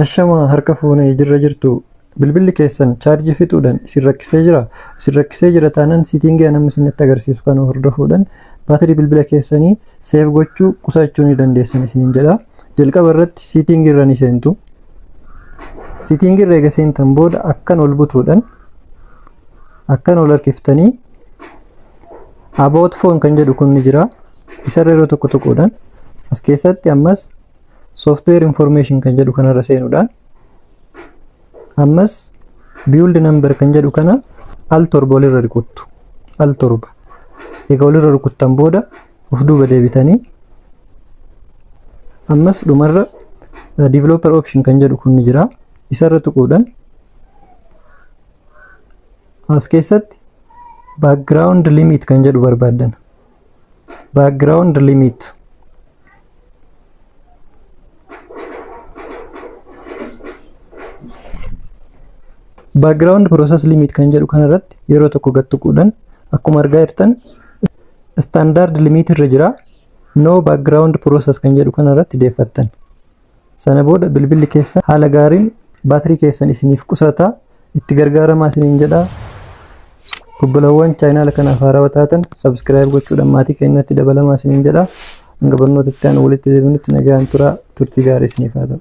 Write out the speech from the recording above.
Ashama harka fuunee jirra jirtu bilbilli keessan chaarjii fixuudhaan isin rakkisee jira isin rakkisee jira taanaan siitingii an amma isinitti agarsiisu kana hordofuudhaan baatirii bilbila keessanii seef gochuu qusachuu ni dandeessan isiniin jedha jalqaba irratti siitingii irra ni seentu Sitting irra eega seentan booda akkan ol butuudhan akkan ol harkiftanii about phone kan jedhu kun ni jira. Isarra yeroo tokko tuquudhan as keessatti ammas software information kan jedhu kanarra seenuudhaan ammas build number kan jedhu kana al torba olirra rukuttu al torba egaa olirra rukuttan booda of duuba deebitanii ammas dhumarra eh, developer option kan jedhu kun ni jira isarra tuquudhaan as keessatti background limit kan jedhu barbaaddan background limit background process limit kan jedhu kana irratti yeroo tokko gad tuquudhaan akkuma argaa jirtan standard limit irra jira no background process kan jedhu kana irratti deeffattan Sana booda bilbilli keessan haala gaariin baatirii keessan isiniif qusata. Itti gargaaramaa isiniin jedha. Obbolawwan chaayinaala kanaaf haarawa taatan sabskiraayib gochuudhaan maatii keenyatti dabalamaa isiniin jedha. Hanga barnoota itti aanu walitti deebinutti nagaan turaa turtii gaarii isiniif haa ta'u.